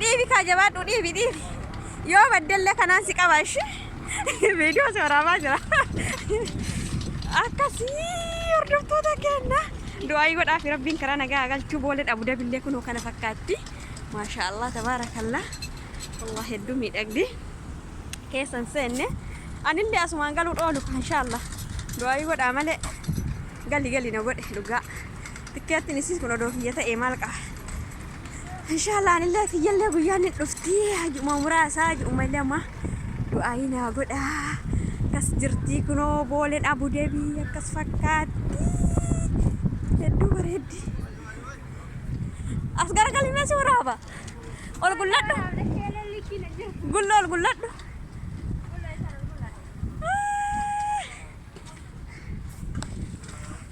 Dhiibi kaa jabaadhu dhiibi dhiibi. Yoo baddellee kanaan si qaba ishee. Viidiyoo si waraabaa jira. Akkasii hordoftoota keenya. Du'aa godhaa fi rabbiin karaa nagaa galchuu boolee dhabu dabillee kunoo kana fakkaatti. Maashaa Allah tabaarakallah. Allah hedduu miidhagdi. Keessan seenne. Anillee asumaan galuu dhoolu inshaa Allah. Du'aa godhaa malee gali gali na godhe dhugaa. Tikkeettiin isiin kun odoo kiyya ta'e maal qaba? Inshaallah anillee kiyyallee guyyaan ni dhufti. Hajuma muraasa hajuma lama du'aayii naa godha. Akkas jirti kunoo booleen abu debii akkas fakkaatti. Hedduu bareeddi. As garagalii mee si waraaba. Ol gulladhu. Gullo ol gulladhu.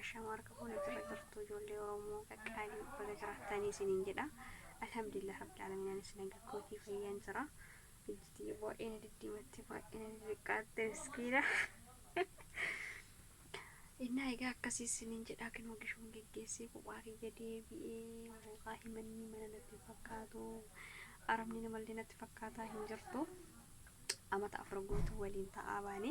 Ashamaa harka fuune akkirra jirtu ijoollee Oromoo qaqqaalii baga jiraattanii isiniin jedha. Alhamdulillah Rabbil Aalamiin anis naga kootii fayyaan jira. Ijjitiyya baay'ee na diddiimatte baay'ee na diddiqqaatte miskiina. Innaa egaa akkasii isiniin jedhaa kinoo gishoon geggeessee kophaa kiyya deebi'ee hoogaa himanni mana natti fakkaatu arabni namallee natti fakkaataa hin jirtu. Amata afur guutuu waliin ta'aa baane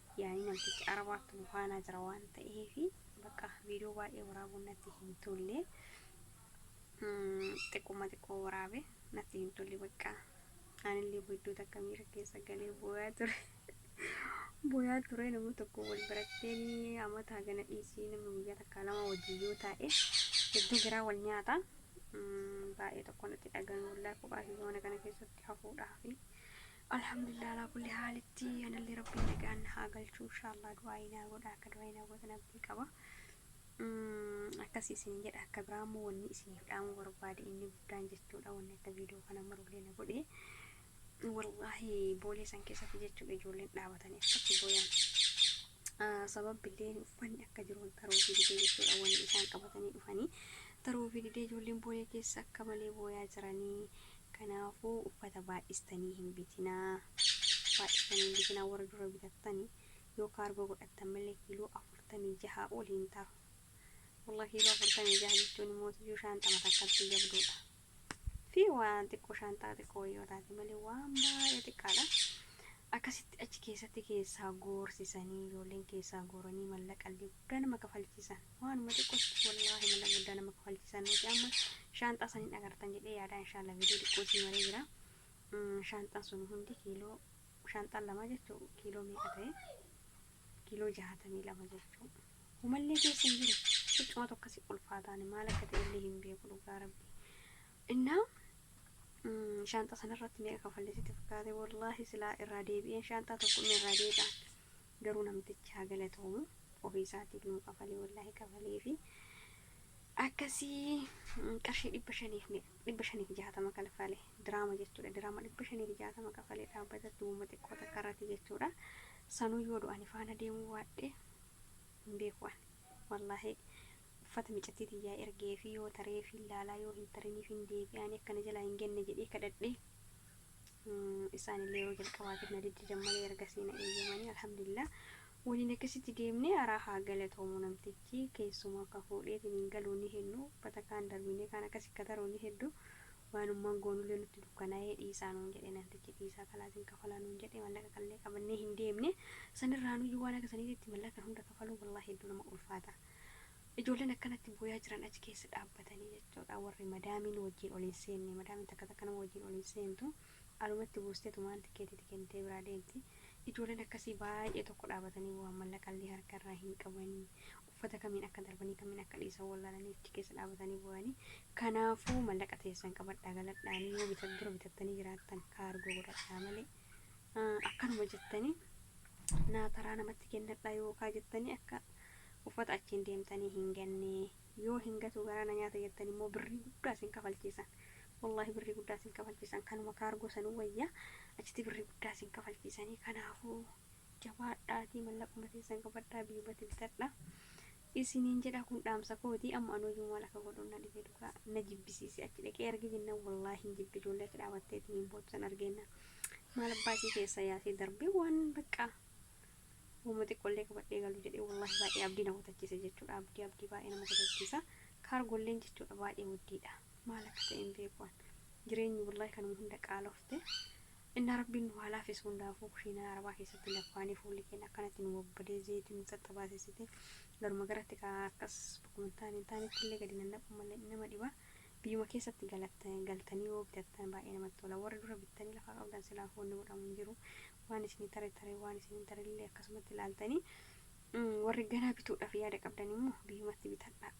Yaani namtichi arabaatti nu faanaa jira waan ta'eefi bakka viidiyoo baay'ee waraabuun natti hin tolle. Xiqquma xiqqoo waraabe natti hin tolle bakka anillee iddoo takka miira keessa galee booyaa ture. Booyaa ture nama tokko wal barattee inni amata hagana dhiisii namni guyyaa takka lama wajjin yoo taa'e hedduu garaa wal nyaata. Baay'ee tokko natti dhaga'ame wallaahi kophaa kiyya mana kana keessatti hafuudhaafi. Alhamdulillah alaa kulli haalitti anallee rabbiin nagaan na haa galchu inshallah du'aa'ii naa godha akka du'aa'ii naa gootan abdii qaba akkasii isin jedha akka biraa immoo wanni isiniif dhaamu barbaade inni guddaan jechuudha wanni akka viidiyoo kana marullee na godhe wallaahi boolee san keessatti jechuudha ijoolleen dhaabatanii akkatti booyan sababbilleen uffanni akka jiru wanta taruufii didee jechuudha wanni isaan qabatanii dhufanii taruufii didee ijoolleen booya keessa akka malee booyaa jiranii kanaafuu uffata baay'istanii hin bitinaa baay'istanii hin bitinaa warra dura bitattanii yoo kaargoo godhattan malee kiiloo afurtamii jahaa ol hin taru wallahi kiiloo afurtamii jaha jechuun immoo tiyuu shaanxama takkatti jabduudha fi waan xiqqoo shaanxaa xiqqoo yoo taate malee waan baay'ee xiqqaadha. Akkasitti achi keessatti keessaa goorsisanii ijoolleen keessaa gooranii mallaqallee guddaa nama kafalchiisan. Waanuma xiqqootti wallaahi mallaqa guddaa nama kafalchiisan nuti amma shaanxaa saniin agartan jedhee yaadaa inshaallah viidiyoo xiqqoo isin maree jira. Mm, Shaanxaan sun hundi kiiloo shaanxaan lama jechuu kiiloo meeqa ta'e kiiloo jaatamii lama jechuu. Homallee keessa hin jiru. Huccumatu akkasi ulfaataani maal akka ta'e illee hin beeku dhugaa rabbi. Innaa mm, shaanxaa sanarratti meeqa kafalle sitti fakkaate wallaahi silaa irraa deebi'een shaanxaa tokko inni irraa deebi'a. Garuu namtichi haa galatoomu ofii isaatiif nuu kafalee wallaahi kafalee fi akkasii mm, qarshii dhibba shaniif me- dhibba shaniif jaatama kalfale diraama jechuudha diraama dhibba shaniif jaatama kafalee dhaabbata duwwuma xiqqoo takka irratti jechuudha sanuu yoo du'ani faana deemuu waadhe hin beeku ani wallaahi uffata micattii tiyyaa ergeefii yoo tareefiin laalaa yoo hin tariniifiin deebi'aa ani akka na jalaa hin genne jedhee kadhadhe isaan illee yeroo jalqabaatiif na diddidan malee ergasii na eeyyamanii alhamdulillah waliin akkasitti deemnee araa haa galatoomu namtichi keessumaa ka fuudheetiin hin galuu ni heddu uffata kaan darbinee kaan akkas ikka taruu ni heddu Waanummaan goonullee nutti dukkanaa'ee dhiisaa nuun jedhe namtichi dhiisaa kanaa isin kafalaa nuun jedhe mallaqa kanallee qabannee hin deemne sanirraanuyyuu waan akka saniititti mallaqa kan hunda kafaluu wallaahi hedduu nama ulfaata ijoolleen akkanatti booyaa jiran achi keessa dhaabbatanii jechuudha warri madaamiin wajjiin ol hin seenne madaamiin takka takka nama wajjiin ol hin seentu alumatti buusteetumaan tikeetiiti kennitee biraa deemti ijoolleen akkasii baay'ee tokko dhaabatanii boohan mallaqallee harkarraa hin qabanii uffata kamiin akka darbanii kamiin akka dhiisan wallaalanii achi keessa dhaabatanii booyanii kanaafuu mallaqa teessan qabadhaa galadhaanii yoo bitat dura bitattanii jiraattan kaargoo godhadhaa malee ah, akkanuma jettanii naa taraa namatti kennadhaa yookaa jettanii akka uffata achiin deemtanii hin gannee yoo hin gatuu garaa na nyaata jettan immoo birrii guddaa isin kafalchiisan wallaahi birrii guddaa isin kafalchiisan kanuma kaargoo sanuu wayyaa achitti birrii guddaa isin kafalchiisanii kanaafuu jabaadhaatii mallaquma teessan qabadhaa biyumatti bitadhaa isiniin jedha kun dhaamsa kooti amma an hojii maal akka godhu na dhibee dhugaa na jibbisiise achi dhaqee arge jennaan wallaahi hin jibbe ijoollee achi dhaabatteetiin hin bootsan argeenna maal abbaa isii keessa yaasee darbee waan baqqaa Uuma xiqqollee qabadhee galu jedhee wallaahi baay'ee abdii na kutachiise jechuudha abdii abdii baay'ee nama kutachiisa kaargolleen jechuudha baay'ee waddiidha maal akka ta'e hin beekuan jireenyi wallaahi kanuma hunda qaalofte Innaa Rabbiin nu haa laaffisu hundaafuu kushiinaa arabaa keessatti laffaanee fuulli keenya akkanatti nu babbadee zeeytii nu xaxxabaasessite garuma garatti ka akkas bakkuma hin taane hin taanetti illee gadi nannaquun malee nama dhiba biyyuma keessatti galtanii yoo bitattan baay'ee namatti tola warri dura bittanii lafaa qabdan silaafuu wanni godhamu hin jiru waan isinii tare tare waan isin hin tare illee akkasumatti ilaaltanii warri ganaa bituudhaaf yaada qabdan immoo biyyumatti bitadhaa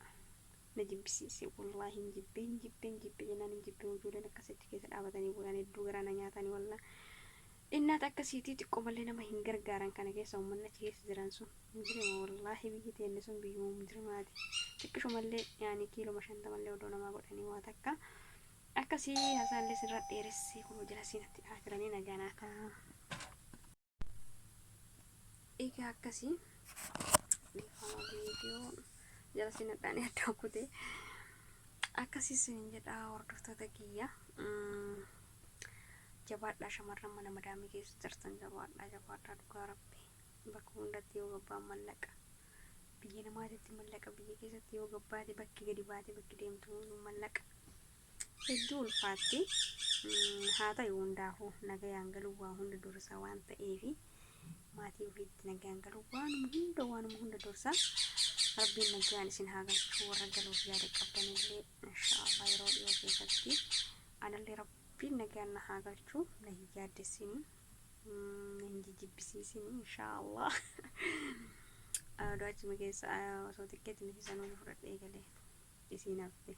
na jibbisiise wallahi hin jibbe hin jibbe hin jibbe jennaan hin jibbe ijoolleen akkas achi keessa dhaabatanii boolaan hedduu garaa na nyaatanii wallahi innaata akkasiitii xiqqoo malee nama hin gargaaran kana keessa uummanni achi keessa jiran sun mujirima wallahi biyyi teenne sun biyyuma mujirimaati xiqqishumallee yaani kiiluma shantamallee odoo namaa godhanii waa takka akkasii hasaallee sirra dheeressee kunoo jala siinatti dhahaa jiranii nagaa naa ta'a. Egaa akkasii dhiifama viidiyoo jala sinadhaanii adda kutee akkasii sinin jedhaa hordoftoota kiyya jabaadhaa shamarran mana madaamii keessa jirtan jabaadhaa jabaadhaa dhugaa rabbi bakka hundatti yoo gabbaan mallaqa biyya namaatitti mallaqa biyya keessatti yoo gabbaate bakki gadi baate bakki deemtu mallaqa hedduu ulfaatti haa ta'u hundaafuu nagayaan galuun waa hunda dursa waan ta'eef maatii ofiitti nagayaan galuun waanuma hunda waanuma hunda dursa rabbiin nagayaan isin haa galchu warra galuuf yaada qabdanillee inshaallah yeroo dhiyoo keessatti anallee rabbiin nagayaan na haa galchu na hin yaaddessini na hin jijjibbisiisini inshaallah du'aachuma keessa osoo xiqqeetti miti sanuu fudhadhee galee. isiin hafte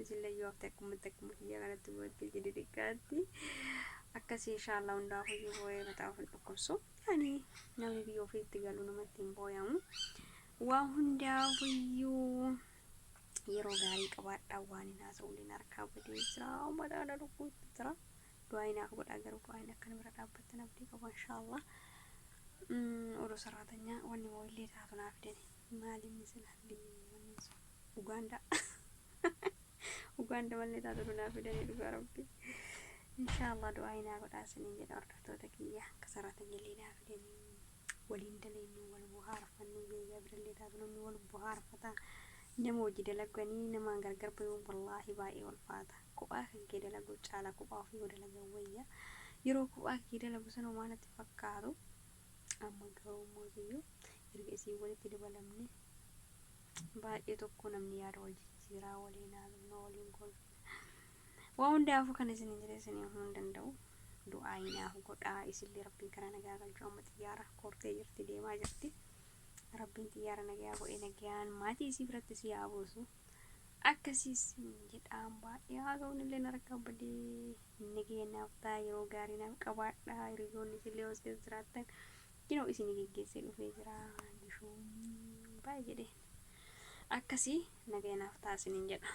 isillee yoo hafte akkumatti akkuma kiyya kanatti bootti jidi xiqqaatti akkasii inshaallah hundaa hoyyuu booyee mataa ofin dhukkubsu yani namni biyya ofiitti galu namatti hin booyamu waa hundaa hoyyuu yeroo gaarii qabaadhaa waan hin haasa'uliin harkaa badee jira mataa na dhukkuutti jira du'aa hin akka godhaa garuu du'aa hin akka na bira dhaabbattan abdii qaba inshaallah odoo saraatanyaa wanni moo illee taatu naa fidanii Maali inni sila hangini manni sun Uganda Uganda malle taatu dunaa fidanii dhugaa rabbi inshallah du'aayi naa godhaa sinin jedha hordoftoota kiyya akka saraatanya illee naa fidanii waliin daleennu wal buhaarfannu biyya birallee taatu namni wal buhaarfata nama hojii dalaganii namaan gargar bayuun wallaahi baay'ee walfaata kophaa kan kee dalaguu caala kophaa ofii yoo dalagan wayya yeroo kophaa kee dalagu sana maanatti fakkaatu amma garuu mootiyyuu erga isiin walitti dabalamne baay'ee tokko namni yaada wal jijjiiraa waliin haasofna waliin kolfina waa hundaafuu kan isin hin jedhe isin himuu hin danda'u du'aa hinaaf godhaa isillee rabbiin karaa nagaa galchuu amma xiyyaara kortee jirti deemaa jirti rabbiin xiyyaara nagaa godhee nagaan maatii isii biratti si haa buusu Akkasii siin jedhaan baay'ee haasawuun illee narkaa badee nagaya naaf ta'a yeroo gaarii naaf qabaadha hiriyoonni isin leeyoos keessa jiraattan yeroo isin geggeessee dhufee jira gishuun baay'ee jedheen akkasii nagaya naaf ta'a isiniin jedha.